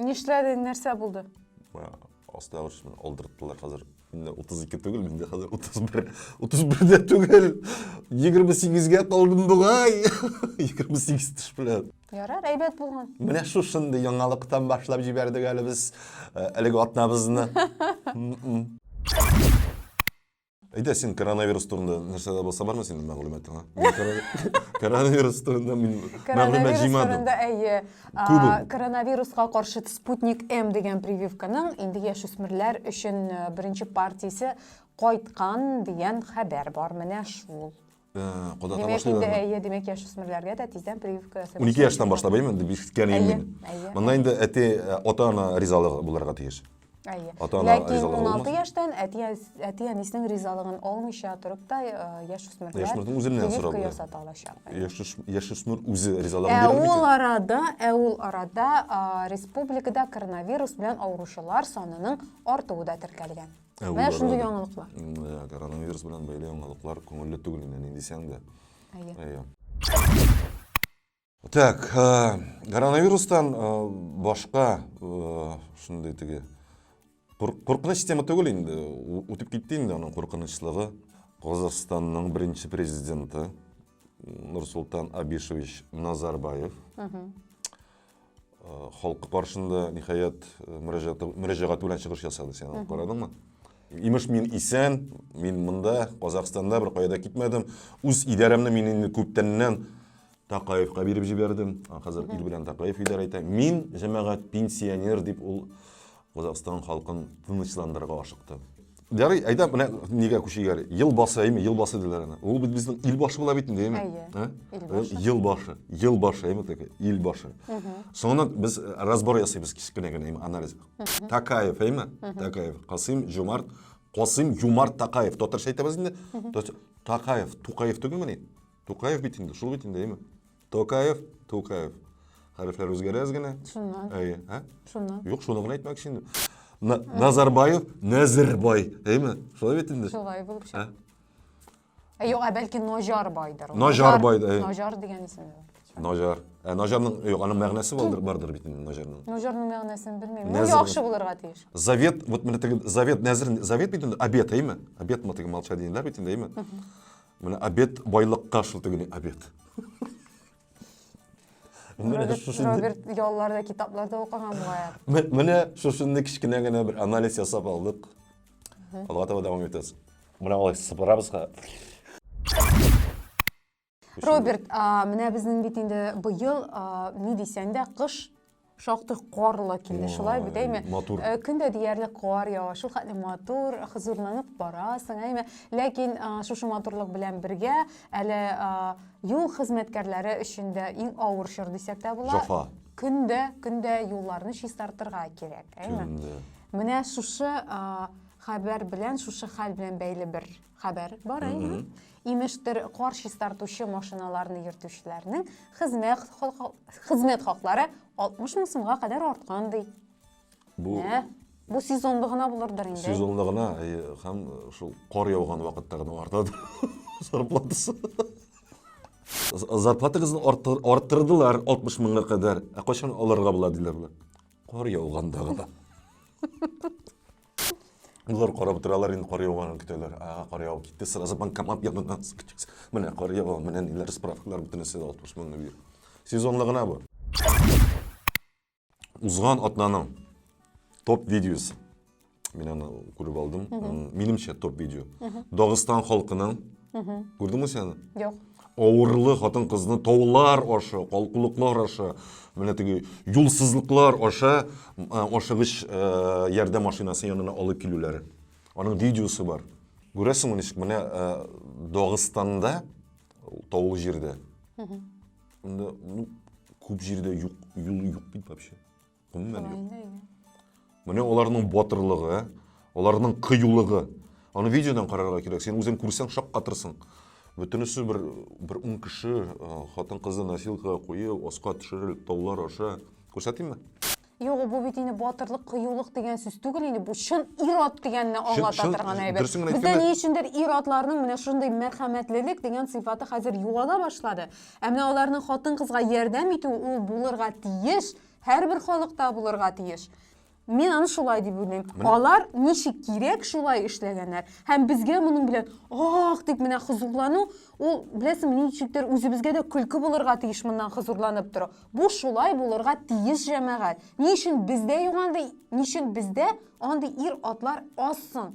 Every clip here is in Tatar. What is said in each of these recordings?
Нишләде, нәрсә булды? Асты авырыш белән алдырттылар хәзер. Инде 32 түгел, инде хәзер 31. 31 дә түгел. 28-гә калдым бугай. 28 теш белән. Ярар, әйбәт булган. Менә шушындый яңалыктан башлап җибәрдек әле без әлеге атнабызны. Әйдә, син коронавирус турында нәрсә дә булса бармы синең мәгълүматыңа? Коронавирус турында мин мәгълүмат җыймадым. Әйе. Коронавируска каршы Спутник М дигән прививканың инде яшүсмерләр өчен беренче партиясе кайткан дигән хәбәр бар. Менә шул. кода таба башлый инде әйе димәк яшүсмерләргә дә тиздән прививка ясый унике яшьтән башлап әйеме дип ишеткән идем мин монда инде әти э, ата ана ризалыгы булырга тиеш әйе ләкин уналты яшьтән әти әти әнисенең ризалыгын алмыйча торып та э, яшүсмерләр яшүсмердин үзеннән сорап ясата алачак яшүсмер үзе ризалыгын ә бирә ул арада ә ул арада республикада коронавирус белән авыручылар санының артуы да теркәлгән Ә Менә шундый яңалыклар. Ә, коронавирус белән бәйле яңалыклар күңелле түгел инде, ни дисәң дә. Әйе. Әйе. Так, коронавирустан башка шундый теге куркыныч тема түгел инде, үтеп китте инде аның куркынычлыгы. Казахстанның беренче президенты Нурсултан Абишевич Назарбаев Халкы каршында, ниһаять, мөрәҗәгать белән чыгыш ясады, сен алып карадыңмы? Имеш, мин исән, мин монда, Казахстанда, бер кая да китмәдем. Үз идарәмне мин инде күптәннән Такаевка биреп җибәрдем. Хәзер ил белән Такаев идарә итә. Мин, җәмәгать, пенсионер, дип ул Казакъстан халкын тынычландырырга ашыкты. Ярый, әйдә, менә нигә күчегәр? Ел басы, әйме, ел басы диләр аны. Ул бит безнең ил башы була бит инде, әйме? Әйе. Ил башы. Ел башы, ел башы, әйме, теге, ил башы. Соңыннан без э, разбор ясыйбыз кичкенә генә, әйме, анализ. Такаев, әйме? Такаев. Касыйм Жумарт, Касыйм Юмарт Такаев. Татарча әйтәбез инде. Такаев, Тукаев түгелмени? Тукаев бит инде, шул бит инде, әйме? Токаев, Тукаев. Хәрефләр үзгәрәз генә. Шуннан. Әйе, ә? Шуннан. Юк, шуны гына әйтмәкче инде. На, Назарбаев, Нәзербай, әйме? Шулай бит инде. Шулай булып чыга. Ә? Ә юк, ә бәлки Ножарбайдыр. ул. Ножарбай, Ножар- әйе. Ножар дигән исем. бар. Ножар. Ә Ножарның, юк, аның мәгънәсе булдыр, бардыр бит инде Ножарның. Ножарның мәгънәсен белмим. Ул Нәзер- яхшы булырга тиеш. Завет, вот менә теге завет, нәзер, завет бит инде, обед, әйме? Обед мы теге молча дигәннәр бит инде, әйме? Менә обед байлыкка шул тегене обед. Роберт ялларда китапларда укыган бугая. Менә шушынны кечкенә генә бер анализ ясап алдык. Алга таба дәвам итәбез. Менә алай сыпырабыз. Роберт, менә безнең бит инде быел ни дисәң дә кыш Шактый карлы килде, шулай бит, әйме? Матур. Э, Көн дә диярлек кар ява, шул хәтле матур, хозурланып барасың, әйме? Ләкин э, шушы матурлык белән бергә әле э, юл хезмәткәрләре өчен дә иң авыр чор дисәк тә була. Җафа. Көн дә, көн дә юлларны чистартырга кирәк, әйме? Көн дә. Менә шушы э, хәбәр белән, шушы хәл белән бәйле бер хәбәр бар, әйме? Имештер, кар чистартучы машиналарны йөртүчеләрнең хезмәт хезмәт хаклары 60 мең сумга кадәр арткан ди. Бу Ә, бу сезонлы гына булырдыр инде. сезонлы гына э, һәм шул кар яуган вакытта гына артады зарплатасы. З- Зарплатагызны арттыр- арттырдылар 60 меңга кадәр. Ә кайчан алырга була диләр болар? Кар яуганда гына. Юллар карап торалар, инде кар яуганын көтәләр. Ага, кар явып китте, сразу банкомат янына сыктык. Менә кар ява, менә ниләр справкалар бөтенесе 60 меңне бир. Сезонлы гына бу. Узган атнаның топ видеосы. Мин аны күреп алдым. Минемчә топ видео. Дагыстан халкының. Күрдеңме сен аны? Юк. Авырлы хатын-кызны таулар аша, калкулыклар аша, менә теге юлсызлыклар аша ашыгыч ярдәм машинасы янына алып килүләре. Аның видеосы бар. Күрәсеңме ничек? Менә Дагыстанда, таулы җирдә. Анда, ну, күп җирдә юк, юл юк бит вообще. Гомумән юк. Инде, инде. Менә аларның батырлыгы, аларның кыюлыгы. Аны видеодан карарга кирәк. Син үзең күрсәң шаккатырсың. Бөтенесе бер бер ун кеше хатын-кызны носилкага куеп, аска төшерелеп таулар аша. Күрсәтимме? Юк, бу бит инде батырлык, кыюлык дигән сүз түгел инде. Бу чын ир-ат дигәнне аңлата торган әйбер. Бездә ни өчендер ир-атларның менә шундый мәрхәмәтлелек дигән сыйфаты хәзер югала башлады. Ә менә аларның хатын-кызга ярдәм итү ул булырга тиеш. Һәрбер халыкта булырга тиеш. Мин аны шулай дип уйлыйм. Алар ничек кирәк шулай эшләгәннәр. Һәм безгә моның белән ах дип менә хозурлану, ул беләсең, ничектер үзебезгә дә көлке булырга тиеш моннан хозурланып тору. Бу шулай булырга тиеш җәмәгать. Ни өчен бездә юк андый, ни өчен бездә андый ир-атлар аз соң?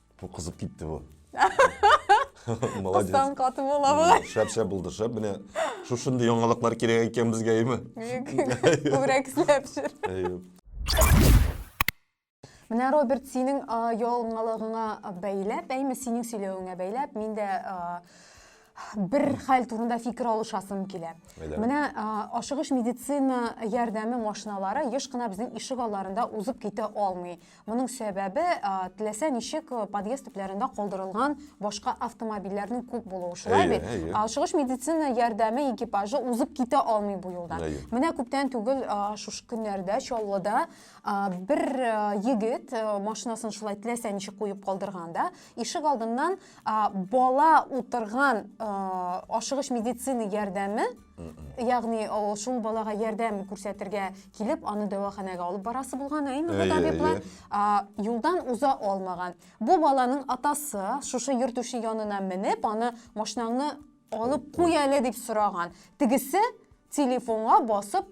Бу кызып китте бу. Молодец. Кыстан каты була бу. Шәп шәп булды, шәп. Менә шушындый яңалыклар кирәк икән безгә, әйме? Күбрәк эшләп шер. Менә Роберт синең яңалыгыңа бәйләп, әйме синең сөйләвеңә бәйләп, мин дә бер хәл турында фикер алышасым килә. Менә ашыгыч медицина ярдәме машиналары еш кына безнең ишек алларында узып китә алмый. Моның сәбәбе теләсә ничек подъезд төпләрендә калдырылган башка автомобильләрнең күп булуы. Шулай бит? Ашыгыч медицина ярдәме экипажы узып китә алмый бу юлдан. Менә күптән түгел шушы көннәрдә Чаллыда бер егет машинасын шулай теләсә ничек куеп калдырганда, ишек алдыннан бала утырган ашыгыч медицина ярдәме ягъни шул балага ярдәм күрсәтергә килеп аны дәваханәгә алып барасы булган ә инде бу табиблар юлдан уза алмаган бу баланың атасы шушы йөртүче янына менеп аны машинаңны алып куй әле дип сораган тегесе телефонга басып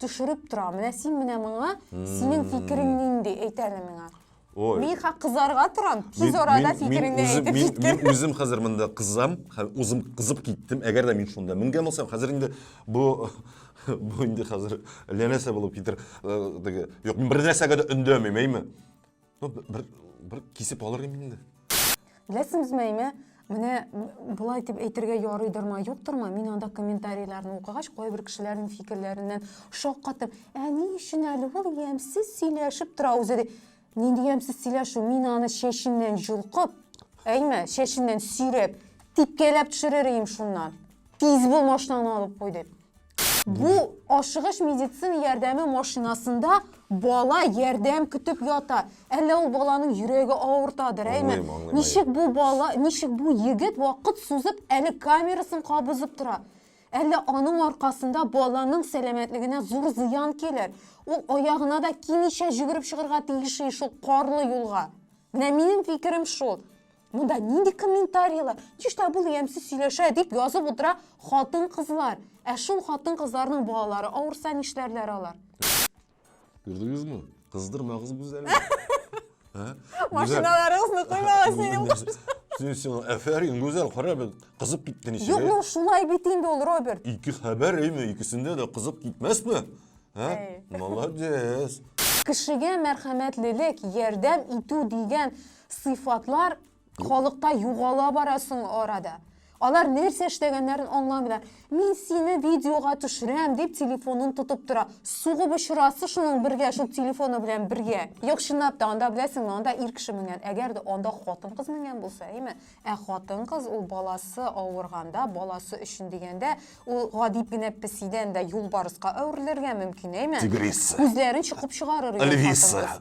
төшереп тора. Менә син менә моңа, синең фикерең нинди, әйт әле миңа. Ой. Мин хак кызарга торам, тиз арада фикереңне әйтеп мин, мин, мин үзем хәзер монда кызам, үзем кызып киттем. Әгәр дә мин шунда менгән булсам, хәзер инде бу бу инде хәзер ләнәсә булып китер. Юк, мин бер нәрсәгә дә өндәмим, әйме? Ну, бер, бер кисеп алыр инде инде. Беләсеңезме, әйме? Менә болай дип әйтергә ярыйдыр ма, юктыр ма? Мин анда комментарийларны укыгач, кайбер кешеләрнең фикерләреннән шаккатып, ә ни өчен әле ул ямьсез сөйләшеп тора үзе ди. Нинди ямьсез сөйләшү? Мин аны чәченнән җолкып, әйме, чәченнән сөйрәп, типкәләп төшерер идем шуннан. Тиз бул машинаны алып кой дип. Бу ашыгыч медицина ярдәме машинасында бала ярдәм көтеп ята. Әллә ул баланың йөрәге авыртадыр, әйме? Ничек бу бала, ничек бу егет вакыт сузып әле камерасын кабызып тора? Әллә аның аркасында баланың сәламәтлегенә зур зыян килер? Ул аягына да кимичә җөгереп чыгырга тиеш шул карлы юлга. Менә минем фикерем шул. Монда нинди комментарийлар? Чишта бул ямсыз сөйләшә дип язып утыра хатын кызлар. Ә шул хатын кызларның балалары авырса нишләрләр алар? Күрдегезме? Кыздырмагыз гүзәлне. Машиналарыгызны куймагыз минем кошым. Син син әфәрин гүзәл кара бит кызып китте ничек. Юк, ну шулай бит инде ул Роберт. Ике хәбәр әйме, икесендә дә кызып китмәсме? Ә? Молодец. Кешегә мәрхәмәтлелек, ярдәм итү дигән Сыйфатлар халыкта югала бара соң арада. Алар нәрсә эшләгәннәрен аңламыйлар. Мин сине видеога төшерәм дип телефонын тотып тора. Сугып очрасы шуның бергә, шул телефоны белән бергә. Юк, чынлап та, анда беләсеңме, анда ир кеше менгән. Әгәр дә анда хатын-кыз менгән булса, әйме? Ә хатын-кыз ул баласы авырганда, баласы өчен дигәндә, ул гади генә песидән дә юлбарыска әверелергә мөмкин, әйме? Тигриса. Күзләрен чокып чыгарыр. Эльвиса.